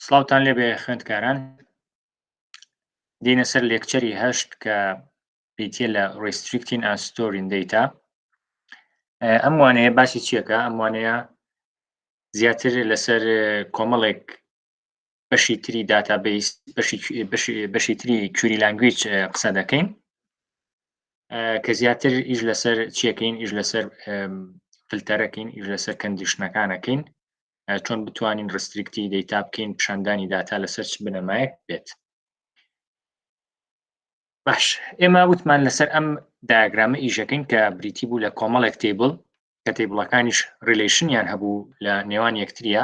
سلااوان لێبێ خوێندکاران دینە سەر لێکچەری هەشت کە پیتە لە ڕیستریکتین ئاستۆرین دیتا ئەم وانەیە باسی چیەکە ئەم وانەیە زیاتر لەسەر کۆمەڵێک بەشی تری داتا بیس بەشی تری کوری لانگویچ قسە دەکەین کە زیاتر ئیش لەسەر چیەکەین ئیش لەسەر فلتەرەکەین ئیش لەسەر کەندیشنەکانەکەین چۆن بتوانین ڕسترکتی دەیتا بکەین پیشاندانی داتا لەسەر چ بنەمایەک بێت باش ئێمە وتمان لەسەر ئەم داگرامە ئیشەکەین کە بریتی بوو لە کۆمەڵێک تیبل کە تیبلەکانیش ریلیشنیان هەبوو لە نێوان یەکتریە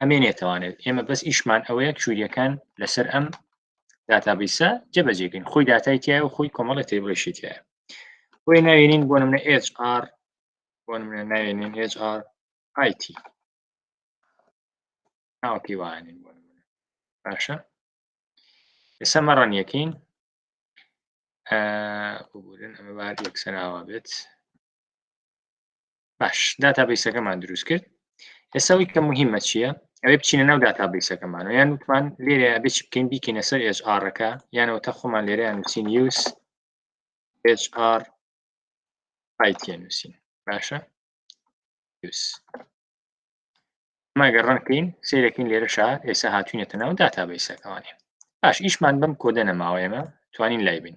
ئەمێ نێتوانێت ئێمە بەس ئیشمان ئەوەیە کوریەکان لەسەر ئەم داتابیسە جەبەجێگەین خۆی داتای تایە و خۆی کۆمەڵی تێبڵێشی تایە بۆی ناوێنین بۆ منە HR بۆ منە ناوێنین HR IT ناوەکەی وانین بۆ باشە ئێستا مەڕەن یەکەین ببورن ئەمە بار یەکسەراوە بێت باش داتا بیسەکەمان دروست کرد ئێساوی کە مهمە چییە ئەوێ بچینە ناو داتا بیسەکەمان و یان وتمان لێرە بچ بکەین بیکەینە سەر ئێژارەکە یانەوە تا خۆمان لێرەیان نووسین یوس HR پایتیە نووسین باشە یوس ماگە ڕەنکەین سیرەکەین لێرە شا ئێستا هاتوینەتە ناو داتا بیسەکەوانێ باش ئیشمان بم کۆدە نەماوە ئێمە توانین لای بین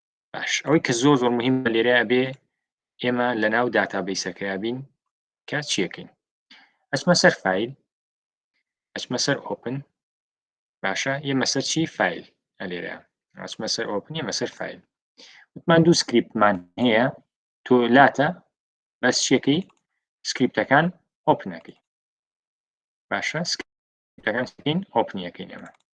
باش ئەوەی کە زۆر زۆر مهم لێرە بێ ئێمە لە ناو داتابیسەکەیا بین کە چیەکەین ئەچمە سەر فیل ئەچمە سەر ئۆپن باشە ئێمە سەر چی فیل ئەلێرە ئەچمە سەر ئۆپن ئێمە سەر فیل وتمان دوو سکریپتمان هەیە تۆ لاتە بەس شیەکەی سکریپتەکان ئۆپنەکەی باشە سکریپتەکان ئۆپنیەکەی ئێمە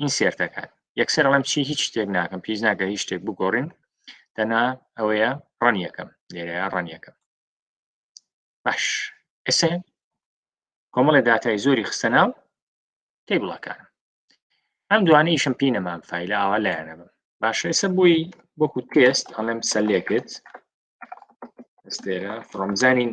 این سێر دەکات یەکسەر ئەڵم چی هیچ شتێک ناکەم پیس ناکە هیچ شتێک بگۆڕین دەنا ئەوەیە ڕەن یەکەم لێرە ڕەن یەکەم باش ئێسێ کۆمەڵی داتای زۆری خستە ناو تی بڵەکان ئەم دوانە ئیشم پی نەمام فیلە ئاوا لایەنە بم باش ئێسە بووی وەکو تێست ئەڵێم سەلێکت ئێستێرە فڕۆمزانین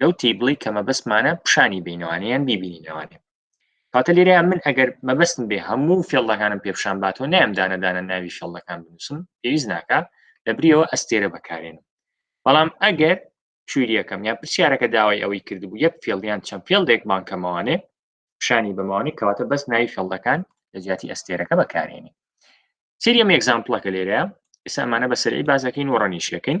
لەو تیبڵی کە مەبەستمانە پیشانی بینەوانە یان بیبینینەوانێ کاتە لێرە من ئەگەر مەبەستم بێ هەموو فێڵەکانم پێپشان باتەوە نام دانەدانە ناوی فێڵەکان بنووسم پێویست ناکە لە بریەوە ئەستێرە بەکارێنم بەڵام ئەگەر کویریەکەم یا پرسیارەکە داوای ئەوەی کردبوو یەک فێڵیان چەند فێڵێک بانکەمەوانێ پیشانی بەمەوانی کەواتە بەس ناوی فێڵەکان لە جیاتی ئەستێرەکە بەکارێنی سریەم ئەگزامپڵەکە لێرە ئێستا ئەمانە بە سەرعی بازەکەین و ڕەنیشەکەین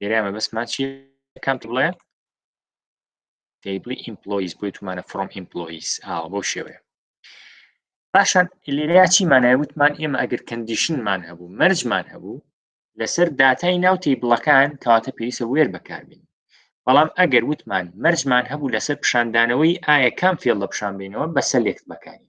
لێرە مەبەستمان چی کام بڵێ تیبلی ئیمپلۆیز بۆی تومانە فرۆم ئیمپلۆیز ئاوە بۆ شێوەیە پاشان لێرەیا چیمانای وتمان ئێمە ئەگەر کەندیشنمان هەبوو مەرجمان هەبوو لەسەر داتای ناو تیبلەکان کەواتە پێویستە وێر بەکاربین بەڵام ئەگەر وتمان مەرجمان هەبوو لەسەر پیشاندانەوەی ئایا کام فێڵ لە پیشان بینەوە بەسە لێکت بەکاری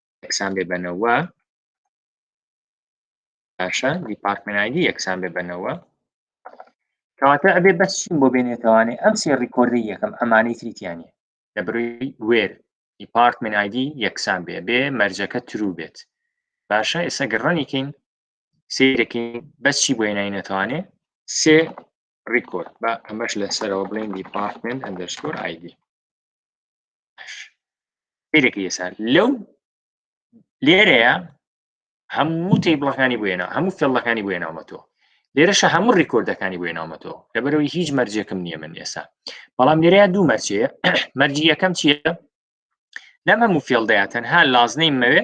یەکسان بێ بەنەوە باشە دیپارتمنایدی یەکسان بێ بەنەوە کەواتە ئەبێ بەس چیم بۆ بێنێتوانێ ئەم سێ ڕیکۆردی یەکەم ئەمانەی تریتیانە لە بروی وێر دیپارتمن ئایدی یەکسان بێ بێ مەرجەکە ترو بێت باشە ئێستا گەڕنیکەین سیرەکەین بەس چی بۆ نای نەتوانێ سێ ڕیکۆرد بە ئەمەش لەسەرەوە بڵێن دیپارتمنت ئەندەرسکۆر ئایدی سیرێکی ئێسا لەو لێرەیە هەموو تی بڵەکانی بێنە هەموو فێڵەکانی بۆێ ناومەتۆ لێرەشە هەموو ڕیکۆردەکانی بۆێ ناومەتۆ لەبەرەوەی هیچ مەرجێکم نییە من ئێسا بەڵام لێرەیە دوو مەرجێ مەرجی یەکەم چییە لەم هەموو فێڵدەیە تەنها لازنەی مەوێ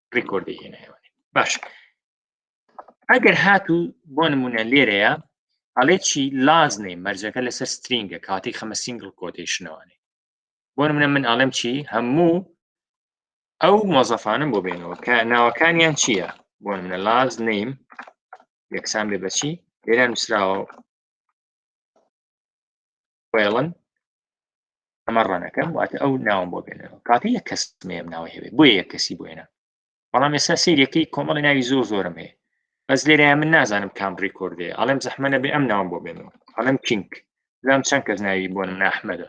ڕیکۆردی هێنایەوە باش ئەگەر هاتوو بۆ نمونە لێرەیە ئەڵێ چی لازنێ مەرجەکە لەسەر سترینگە کاتی خەمە سینگل کۆتیشنەوەێ بۆ منە من ئاڵم چی هەموو ئەو مۆزەفانم بۆ بێنەوە کە ناوەکانیان چییە بۆ منە لاز نیم یەکسان بێ بەچی لێران نووسراوە ڕێڵن ئەمە ڕەنەکەم واتە ئەو ناوم بۆ بێنەوە کاتە یە کەس مێم ناوە هەوێ بۆ یە کەسی بۆێنە بەڵام ێستا سیرەکەی کۆمەڵی ناوی زۆر زۆرم هەیە بەس لێرە من نازانم کام ڕیکۆردێ ئەڵێم زەحمەە بێ ئەم ناوم بۆ بێنەوە ئەڵم کینگ زام چەند کەس ناوی بۆ ناحمەدە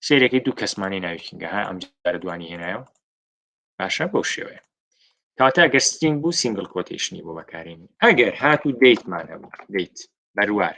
سیرەکەی دوو کەسمانی ناوی کینگە ها ئەم جارە دوانی هێنایەوە باشە بەو شێوەیە کاتا گەر ستینگ بوو سینگل کۆتیشنی بۆ بەکارێنی ئەگەر هات و دیتمان هەبوو دیت بەروار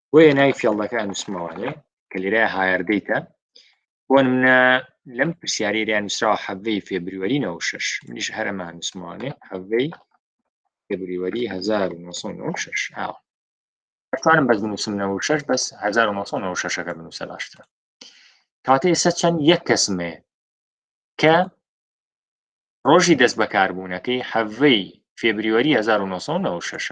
بۆیە ناوی فێڵدەکە ئەنووسمەوە لێ کە لێرە هایردەیتە بۆ منە لەم پرسیارێریان نووسراوە حەڤەی فێبریوەری نەوە شش منیش هەرەمە نووسمانێ حەڤەی فێبریوەری 1996 ئاوە ئەتوانم بەس بنووسم 96 بەس 1996ەکە بنووسە باشترە کاتە ئێستا چەند یەک کەسمێ کە ڕۆژی دەست بەکاربوونەکەی حەڤەی فێبریوەری 1996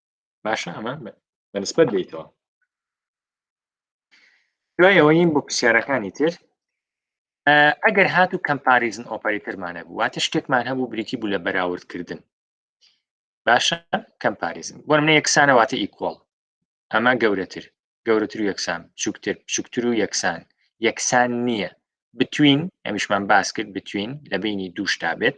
باشە ئەمە بەنسبەت بیتەوە دوای ئەوەین بۆ پرسیارەکانی تر ئەگەر هات و کەمپاریزن ئۆپەرەتەرمانە بوو واتە شتێکمان هەبوو بریتی بوو لە بەراوردکردن باشە کەمپاریزن بۆ منە یەکسانەواتە ئیکۆڵ ئەمە گەورەتر گەورەتر و یەکسان بچووکتر بچووکتر و یەکسان یەکسان نییە بتوین ئەمیشمان باس کرد بتوین لە بینی دووشتا بێت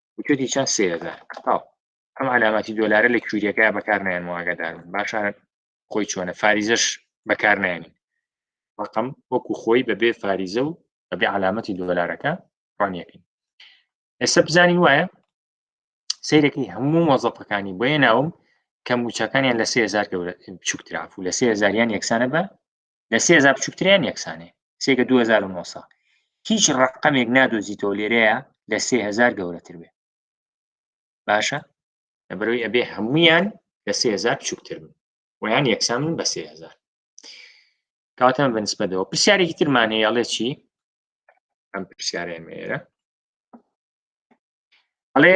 وتێتی چەند سێ هزار تاو ئەم علاماتی دۆلارە لە کوریەکە بەکار نایەن واگەدار باشە خۆی چۆنە فاریزەش بەکار نایێنین ڕقم وەکو خۆی بەبێ فاریزە و بەبێ علامەتی دۆلارەکە ڕانیەکەین ئێستا بزانین وایە سیرەکەی هەموو مۆزەفەکانی بۆیە ناوم کە موچەکانیان لە سێزار گەورە بچووکتراف و لە سێزاریان یەکسانە بە لە سێ هزار بچووکتریان یەکسانێ سێگە 2009 هیچ ڕقەمێک نادۆزیتەوە لێرەیە لە سێ هزار گەورەتر بێ باشە لە بەرەوەی ئەبێ هەمویان لە سێ هزار بچووکتر بن ویان یەکسان بە سێ هزار کاتان بە نسبەتەوە پرسیارێکی ترمان هەیە ئەڵێ چی ئەم پرسیارێن مێرە ئەڵێ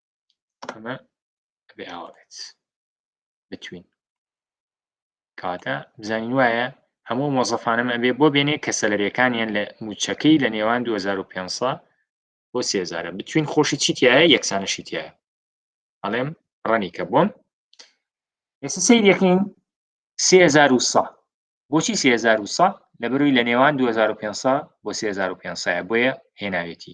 ئەمە بێ ئاوا بێت بتوین کاتە بزانین وایە هەموو مۆزەفانەمە بێ بۆ بێنێ کە سەلەرەکانیان لە موچەکەی لە نێوان 2005 بۆ سێزارە بتوین خۆشی چیتیایە یەکسانەشیتیایە ئەڵێم ڕەنی کە بۆم ئێستا سیر یەکەین 3000 بۆچی 3000 لە بەروی لە نێوان 2005 بۆ 2005 بۆیە هێناوێتی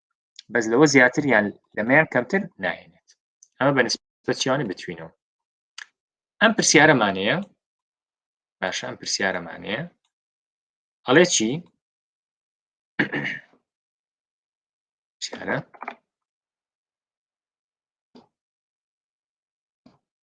بەس لەوە زیاتر یان لەمەیان کەمتر ناهێنێت ئەمە بە نسبەتیانە بتوینەوە ئەم پرسیارەمانەیە باشە ئەم پرسیارەمانەیە ئەڵێ چی پرسیارە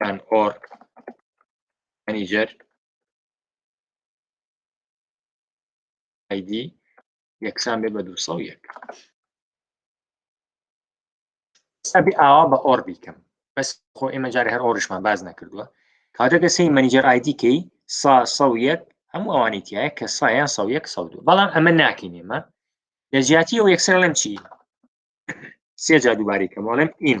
یان ئۆر مەنیجەر ئایدی یەکسان بێ بە دو سە یەک سەبی ئاوا بە ئۆر بیکەم بەس خۆ ئێمە جارێ هەر ئۆریشمان باز نەکردووە کاتەکە سی مەنیجەر ئایدیکەی سا سە یەک هەموو ئەوانی تایە کە سایان سە یەک سە دوو بەڵام ئەمە ناکەین ئێمە لە جیاتی ئەو یەکسەر لەم چی سێ جا دووباری کەمەڵم ئیم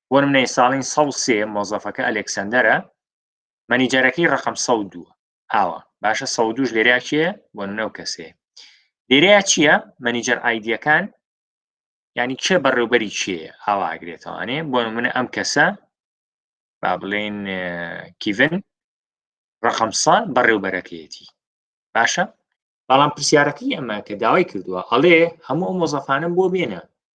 بۆ نمونە ی ساڵین سەد و سێ مۆزەفەکە ئەلێکسەندەرە مەنیجەرەکەی ڕەقەم سەد و دووە ئاوە باشە سەد و دووش لێرەیا کێ بۆ نمونە و کەسەیە لێرەیا چییە مەنیجەر ئایدیەکان ینی کێ بەڕێوبەری کێ ئاوا ئاگرێتەوانێ بۆ نمونە ئەم کەسە با بڵێن کیڤن ڕقم سا بەڕێوبەرەکەیەتی باشە بەڵام پرسیارەکەی ئەمە کە داوای کردووە ئەڵێ هەموو ئەو مۆزەفانم بۆ بێنە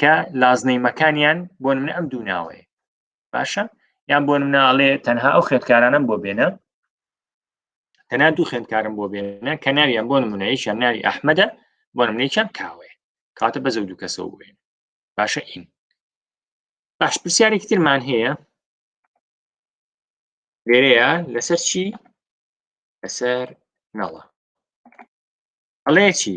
کە لازنەی مەکانیان بۆ منە ئەم دوو ناوەیە باشە یان بۆ مناڵێ تەنها ئەو خێتکارانم بۆ بێنە تەنا دوو خوێندکارم بۆ بێنە کە ناویان بۆ نمونەیەکیان ناوی ئەحمەدە بۆ نمونێکیان کاوێ کاتە بەزە دوو کەسەوە بێن باشە ئین باش پرسیارێکی ترمان هەیە لێرەیە لەسەر چی لەسەر نەڵە ئەڵێ چی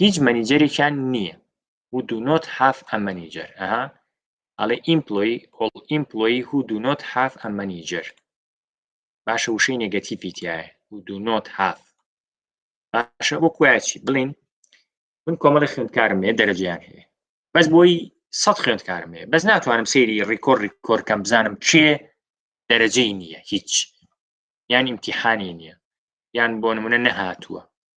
هیچ مەنیجەرێکیان نییە و دو نۆت هاف ئە مەنیجەر ئەها ئەڵێ ئیمپلۆی ئۆڵ ئیمپلۆی هو دو نۆت هاف ئە مەنیجەر باشە وشەی نێگەتیفی تایە و دو نۆت هاف باشە بۆ کویچی بڵین من کۆمەڵی خوێندکارم هەیە دەرەجیان هەیە بەس بۆی سەد خوێندکارم هەیە بەس ناتوانم سەیری ڕیکۆر ڕیکۆرکەم بزانم کێ دەرەجەی نییە هیچ یان امتحانی نییە یان بۆ نمونە نەهاتووە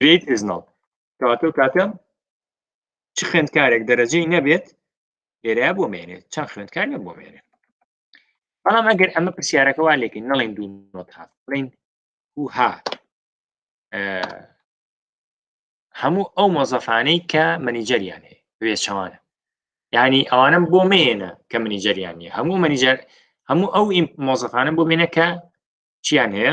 گریت ئیز نۆت کەواتەو کاتە چ خوێندکارێک دەرەجەی نەبێت لێرە بۆ مێنێت چەند خوێندکار بۆ مێنێت بەڵام ئەگەر ئەمە پرسیارەکە وا لێکن نەڵێن دوو نۆت هات بڵین هوها هەموو ئەو مۆزەفانەی کە منیجەریان هەیە وێچەوانە ینی ئەوانم بۆ مێنە کە منیجەریان نیە هەموو منیجەر هەموو ئەو مۆزەفانم بۆ مێنە کە چیان هەیە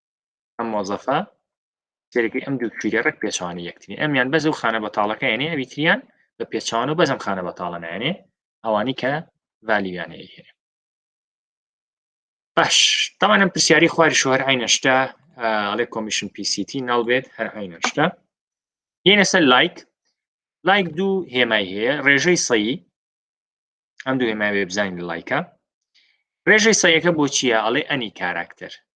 ئەم مۆزەفە سێرەکەی ئەم دوو کویرە ڕێک پێچوانی یەکتری ئەمیان بەز و خانە بەتاڵەکەیانێ ئەویتریان بە پێچوان و بەزم خانە بەتاڵە نایێنێ ئەوانی کە ڤالیویانە هێنێ باش تاوانم پرسیاری خواری شوهر عینەشتا ئەڵێ کۆمیشن پیسیتی ناڵبێت هەر عینەشتا یەنە سەر لایک لایک دوو هێمای هەیە ڕێژەی سەیی ئەم دوو هێمای وێبزانین لایکە ڕێژەی سەیەکە بۆ چییە ئەڵێ ئەنی کاراکتەر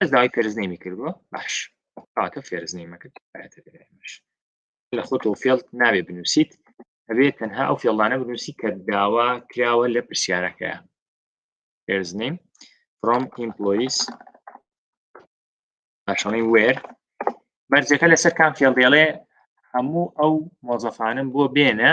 ئەس داوای پێرزنیمی کردووە باش کاتە فێرزنیمەکرد لە خۆتۆ فێڵ ناوێ بنووسیت ئەبێت تەنها ئەو فێڵانە بنووسی کە داوا کراوە لە پرسیارەکەیە پێرزنیم from employees پاشەڵی وێر مەرجەکە لەسەر کام فێڵ دێڵێ هەموو ئەو مۆزەفانم بۆ بێنە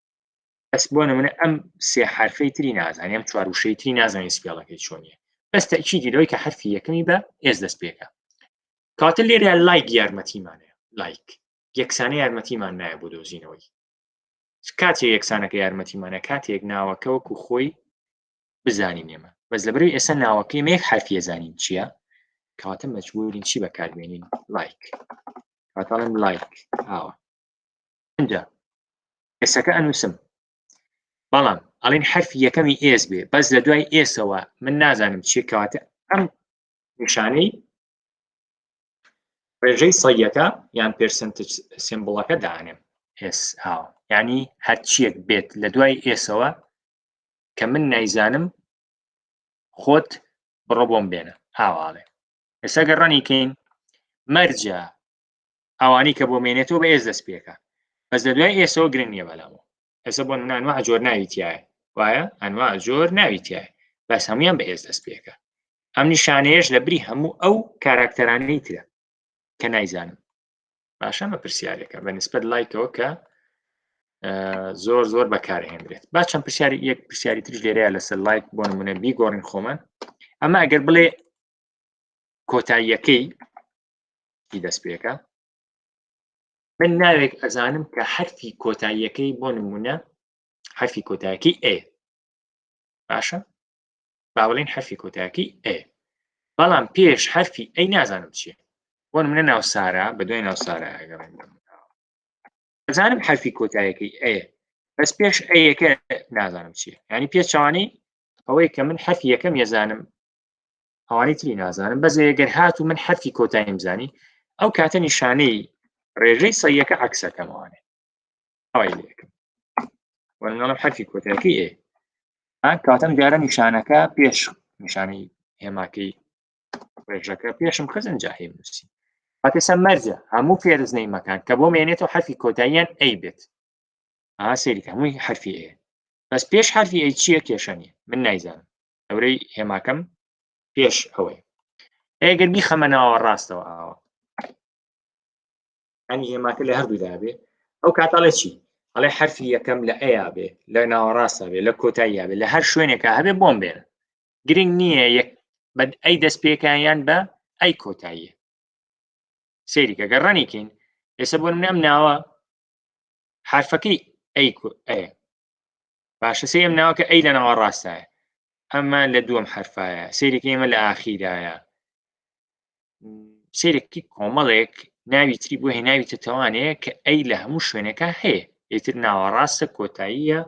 بەس بۆ نمونە ئەم سێ حرفەی تری نازانانی ئەم چوار وشەی تری نازانانی سپێڵەکەی چۆنیە بەس تەچیدی لەوەی کە حرفی یەکەمی بە ئێز دەست پێکە کاتە لێرە لایک یارمەتیمانە لایک یەکسانە یارمەتیمان نایە بۆ دۆزینەوەی کاتێ یەکسانەکە یارمەتیمانە کاتێک ناوەکە وەکو خۆی بزانین ئێمە بەس لە بەروی ئێستا ناوەکەی مێک حرفیە زانین چییە کاتە مەجبورین چی بەکاربێنین لایک کاتاڵم لایک ئاوە ئەنجا ئێسەکە ئەنووسم بەڵام ئەڵین حرفی یەکەمی ئێس بێ بەس لە دوای ئێسەوە من نازانم چی کەواتە ئەم نیشانەی ڕێژەی سەیەکە یان پرسنت سمبڵەکە دانێم ئێس ئاو ینی هەرچیەک بێت لە دوای ئێسەوە کە من نایزانم خۆت بڕۆ بۆم بێنە هاواڵێ ئێستا گەڕانی کەین مەرجە ئەوانی کە بۆ مێنێتەوە بە ئێس دەست پێکە بەس لە دوای ئێسەوە گرنگ نییە بەلامەوە ئێسە بۆ منانوە ئەجۆر ناویتیایە وایە ئەنوا زۆر ناویتیایە بەس هەمویان بە ئێس دەست پێکە ئەم نیشانەیەش لە بری هەموو ئەو کاراکتەرانەی ترە کە نایزانم باشە مە پرسیارێکە بە نسبەت لایکەوە کە زۆر زۆر بەکارهێنرێت با چەند پرسیاری یەک پرسیاری ترش لێرەیە لەسەر لایک بۆ نمونە بیگۆڕین خۆمان ئەمە ئەگەر بڵێ کۆتاییەکەی ی دەستپێکە من ناوێک ئەزانم کە حرفی کۆتاییەکەی بۆ نمونە حرفی کۆتاکی ئێ باشە باوەڵین حرفی کۆتاکی ئێ بەڵام پێش حرفی ئەی نازانم چیە بۆ منە ناو سارا بە دوای ناو سارا ئەزانم حرفی کۆتایەکەی ئەێ بەس پێش ئەیەکە نازانم چیە ینی پێچوانی ئەوەی کە من حرفی یەکەم یەزانم ئەوانەی تری نازانم بەس ئەگەر هات و من حرفی کۆتاییم زانی ئەو کاتە نیشانەی ڕێژەی سەیەکە عکسەکەمانێ وەرنەڵم حرفی کۆتایەکەی ئێ ئەم کاتەم دیارە نیشانەکە پێش نیشانی هێماکەی ڕێژەکە پێشم خزن جاهی نووسی هاتێسە مەرجە هەموو فێرزنەی مەکان کە بۆ مێنێتەوە حرفی کۆتاییان ئەی بێت ئا سەیری هەمووی حرفی ئێ بەس پێش حرفی ئەی چییە کێشە نیە من نایزانم نەورەی هێماکەم پێش ئەوەی ئەگەر بیخەمە ناوە ڕاستەوە ئاوە ئەنی هێماکە لە هەردوو دابێ ئەو کاتاڵێ چی ئەڵێ حرفی یەکەم لە ئەیا بێ لە ناوەڕاستە بێ لە کۆتاییا بێ لە هەر شوێنێکە هەبێ بۆم بێن گرنگ نییە یەک بە ئەی دەست پێکیان بە ئەی کۆتاییە سێریکە گەڕانێکین ئێستا بۆ منم ناوە حرفەکەی ئەی ئەیە باشە سێم ناوکە ئەی لە ناوە ڕاستایە ئەمە لە دووەم حرفایە سێرێکی ئێمە لە ئاخیرایە سێرێکی کۆمەڵێک ناوی تری بۆ هێناوی تەتەوانەیە کە ئەی لە هەموو شوێنەکە هەیە ئیتر ناوە ڕاستە کۆتاییە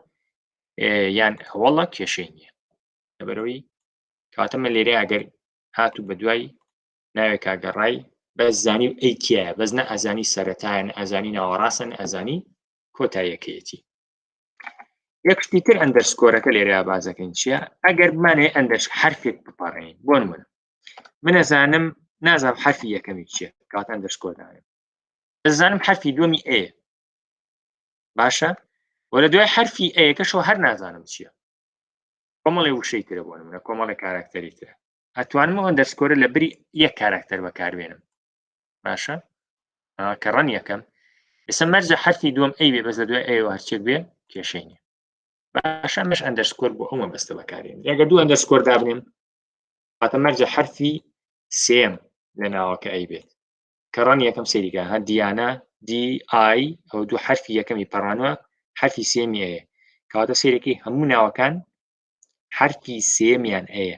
یان هەوڵە کێشەی نییە لەبەرەوەی کاتەمە لێرە ئەگەر هاتوو بە دوای ناوێک کاگەڕای بەس زانی و ئەیتیایە بەس نە ئەزانی سەرەتایەن ئەزانی ناوەڕاستن ئەزانی کۆتایەکەیەتی یەک شتی تر ئەندەرسکۆرەکە لێرە بازەکەین چییە ئەگەر بمانێ ئەندەرش حرفێک بپەڕین بۆن من منەزانم نازم حرفی یەکەمی چیە کات ئەندەرسکۆدانم ئەزانم حرفی دومی ئێ باشە وە لە دوای حرفی ئەیەکەشەوە هەر نازانم چییە کۆمەڵی وشەی ترە بۆن منە کۆمەڵی کاراکتەری ترە ئەتوانم ئەندەرسکۆرە لە بری یەک کاراکتەر بەکاربێنم باشە کە ڕەن یەکەم ئێستا مەرجە حرفی دوم ئەی بێ بەس لە دوای ئەوە هەرچێک بێ کێشەی نیە باشە مش ئەندەرسکۆر بۆ ئەومە بەستە بەکارێن ڕێگە دوو ئەندەرسکۆر دابنێم هاتە مەرجە حرفی سێم لە ناوەکە ئەی بێت کە ڕەن یەکەم سەریگا هە دیانە دی ئای ئەو دوو حرفی یەکەمی پەڕانوە حرفی سێمی ئەیە کەواتە سێرەکەی هەموو ناوەکان حرفی سێمیان ئەیە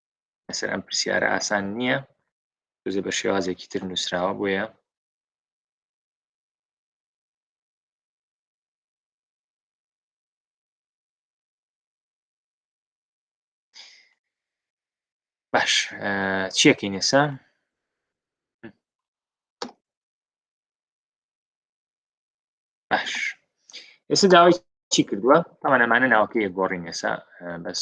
لەسەر ئەم پرسیارە ئاسان نییە بزێ بە شێوازێکی تر نووسراوە بۆیە باش چیەکەی نێسا باش ئێستا داوای چی کردووە تاوان ئەمانە ناوکەیە گۆڕی نێسا بەس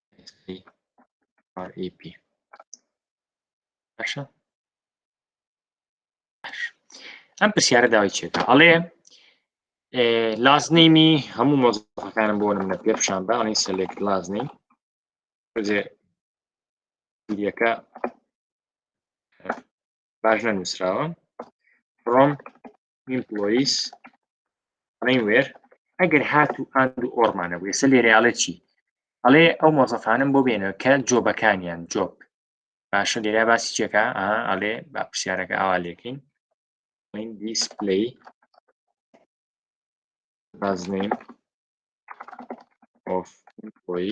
REP باشە ئەم پرسیارە داوای چێتە ئەڵێ لازنیمی هەموو مۆزەکانم بۆ نمە پێ پیشان بە ئەڵین سەلێک لازنی یەکە باش نەنووسراوە ڕۆم ئیمپلۆیس ئەڵێن وێر ئەگەر هات و ئاند و ئۆرمانە بوو ئێستا لێرە ئەڵێ چی ئەڵێ ئەو مۆزەفانم بۆ بێنەوە کە جۆبەکانیان جۆب باشە لێرا باسی چێکە ئەڵێ با پرسیارەکە ئاوا لێکین دیسپلی بازنین ئۆف ئۆی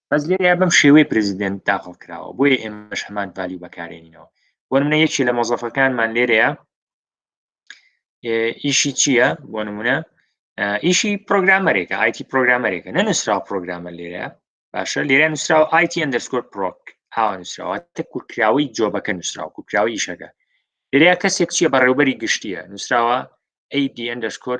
بەس لێرەیا بەم شێوەی پرزیدنت داخڵ کراوە بۆیە ئێمەش هەمان پالی بەکارێنینەوە بۆ منە یەکی لە مۆزەفەکانمان لێرەیە ئیشی چییە بۆ نمونە ئیشی پرۆگرامەرێکە ئایتی پرۆگرامەرێکە نەنووسرا پرۆگرامە لێرە باشە لێرە نووسراوە ئایتی ئەندەرسکۆر پرۆک هاوە نووسراوە تە کورکراوەی جۆبەکە نووسراوە کورکراوە ئیشەکە لێرە کەسێک چییە بەڕێوبەری گشتیە نووسراوە ئەیدی ئەندەرسکۆر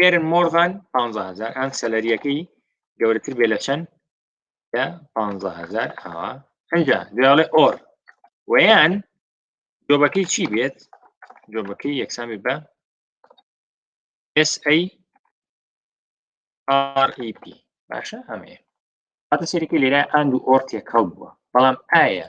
ئێرن مۆرغان 15000 ئەم سەلەریەکەی گەورەتر بێ لە چەند لە 15000 ئاوا ئەجا دوێڵێ ئۆر ویان جۆبەکەی چی بێت جۆبەکەی یەکسامی بە SAREP باشە ئەمەیە هاتە سەرەکە لێرە ئاند و ئۆر تێکەڵ بووە بەڵام ئایا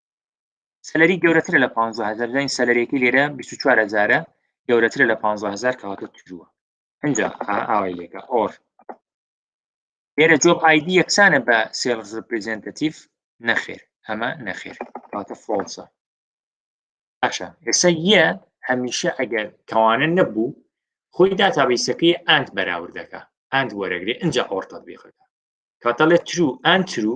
سەلری گەورەترە لە 500هزار داین سەلرێکی لێرە 24هزارە گەورەترە لە 500هزار کەواتە ترووە ئەجا ئاوای لێکە ئۆر لێرە جۆب ئایدی یەکسانە بە سێڵز ریپرزنتەتیف نەخێر ئەمە نەخێر کاتە فۆڵسە باشە ئێستا یە هەمیشە ئەگەر کەوانە نەبوو خۆی داتابیسەکەی ئەند بەراوردەکە ئەند وەرەگرێ ئەجا ئۆرتەت بێخەکە کاتەڵێ ترو ئەند ترو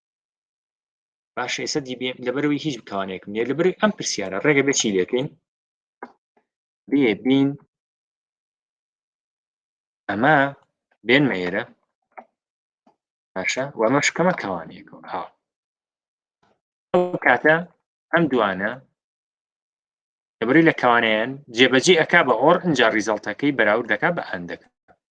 باش ئێستا دیبێ لەبەرەوەی هیچ بتوانێکم نیە لەبەر ئەم پرسیارە ڕێگە بێ چی لەکەین بێ بین ئەمە بێنمە ئێرە باشە و ئەمە شکەمە کەوانەیەکەوە ها کاتە ئەم دوانە لەبەری لە کەوانیان جێبەجی ئەک بە ئۆر ئەجا ریزەڵتەکەی بەراورد دەکا بە هەندەکە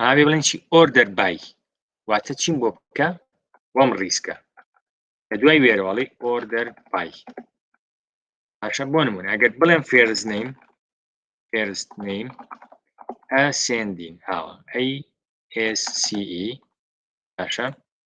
ئاوێ بڵێن چی ئۆردەر بای واتە چیم بۆ بکە وەم ڕیسکە لە دوای وێرەوەڵی ئۆردەر بای پاشە بۆ نمون ئەگەر بڵێم فێرز نیم فێرز نیم ئەسێندین هاوە ئەی SCE پاشە